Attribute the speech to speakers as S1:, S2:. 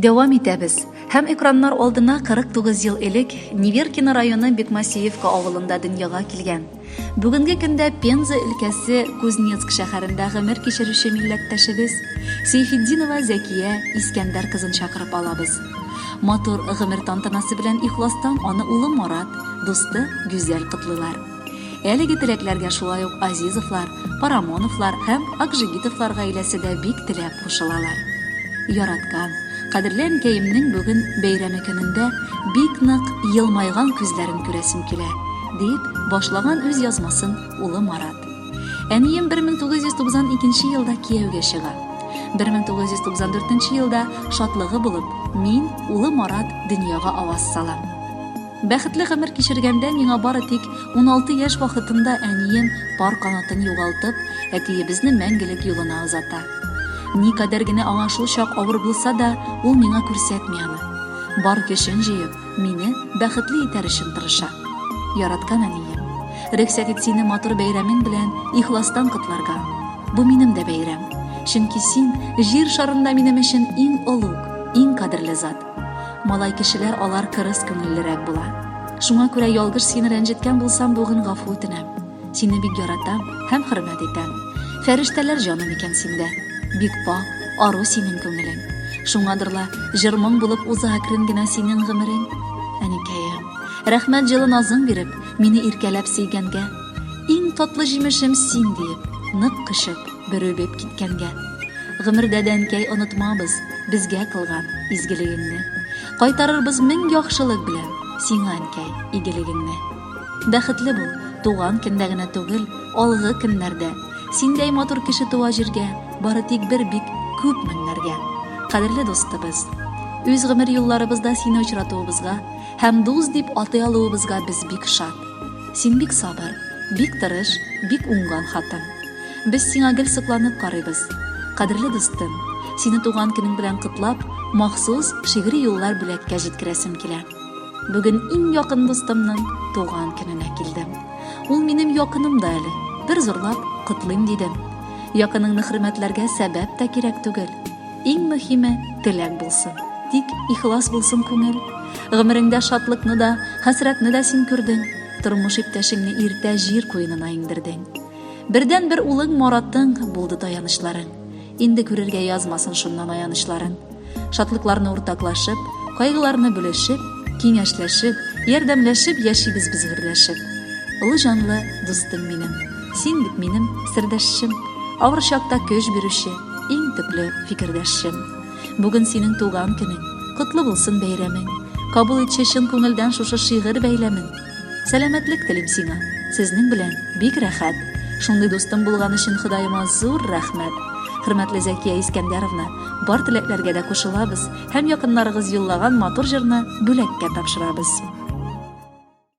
S1: Дәвам итәбез. Һәм экраннар алдына 49 ел элек Неверкино районы Бекмасеевка авылында дөньяга килгән. Бүгенге көндә Пенза өлкәсе Кузнецк шәһәрендә гомер кичерүче милләттәшебез Сейфетдинова Зәкия Искәндәр кызын чакырып алабыз. Матур гомер тантанасы белән ихластан аны улы Марат, дусты Гүзәл котлыйлар. Әлеге теләкләргә шулай ук Азизовлар, Парамоновлар һәм Акжигитовлар гаиләсе дә бик теләп кушылалар. Яраткан, кадерле әнкәемнең бүген бәйрәме көнендә бик нык елмайган күзләрен күрәсем килә, дип башлаган үз язмасын улы Марат. Әнием 1992 елда кияүгә чыга. 1994 елда шатлыгы булып, мин, улы Марат, дөньяга аваз салам. Бәхетле гомер кичергәндә миңа бары тик уналты яшь вакытымда әнием, пар канатын югалтып, әтиебезне мәңгелек юлына озата. Никадәр генә аңа шул чак авыр булса да, ул миңа күрсәтми аны. Бар көчен җыеп, мине бәхетле итәр өчен тырыша. Яраткан әнием! Рөхсәт ит сине матур бәйрәмең белән ихластан котларга. Бу минем дә бәйрәм. Чөнки син, Җир шарында минем өчен иң олуг, иң кадерле зат. Малай кешеләр алар кырыс күңеллерәк була. Шуңа күрә ялгыш сине рәнҗеткән булсам, бүген гафу үтенәм. Сине бик яратам һәм хөрмәт итәм. Фәрештәләр җаным икән синдә. Бик пакь, ару синең күңелең. Шуңадыр ла, җыр-моң булып уза әкрен генә синең гомерең. Әнекәем, рәхмәт җылы назың биреп, мине иркәләп сөйгәнгә. Иң татлы җимешем син, диеп, нык кочып, бер үбеп киткәнгә. Гомердә дә, әнкәй, онытмабыз безгә кылган изгелегеңне. Кайтарырбыз мең яхшылык белән сиңа, әнкәй, игелегеңне. Бәхетле бул, туган көндә генә түгел, алгы көннәрдә. Синдәй матур кеше туа җиргә бары тик бер бик күп меңнәргә. Кадерле дустыбыз! Үз гомер юлларыбызда сине очратуыбызга, Һәм дус дип атый алуыбызга без бик шат. Син бик сабыр, бик тырыш, бик уңган хатын. Без сиңа гел сокланып карыйбыз. Кадерле дустым, сине туган көнең белән котлап, махсус шигъри юллар бүләккә җиткерәсем килә. Бүген иң якын дустымның туган көненә килдем. Ул минем якыным да әле. Бер зурлап котлыйм дидем. Якыныңны хөрмәтләргә сәбәп тә кирәк түгел. Иң мөхиме, теләк булсын. Тик ихлас булсын күңел. Гомереңдә шатлыкны да, хәсрәтне дә син күрдең. Тормыш иптәшеңне иртә җир куенына иңдердең. Бердәнбер улың Маратың булды таянычларың. Инде күрергә язмасын шуннан аянычларын. Шатлыкларны уртаклашып, кайгыларны бүлешеп, киңәшләшеп, ярдәмләшеп яшибез без гөрләшеп. Олы җанлы дустым минем, син бит минем сердәшчем, авыр чакта көч бирүче, Иң төпле фикердәшем. Бүген синең туган көнең. Котлы булсын бәйрәмең. Кабул итче чын күңелдән шушы шигырь бәйләмен. Сәламәтлек телим сиңа. Сезнең белән бик рәхәт. Шундый дустым булган өчен Ходаема зур рәхмәт. Хөрмәтле Зәкия Искәндәровна, бар теләкләргә дә кушылабыз һәм якыннарыгыз юллаган матур җырны бүләккә тапшырабыз.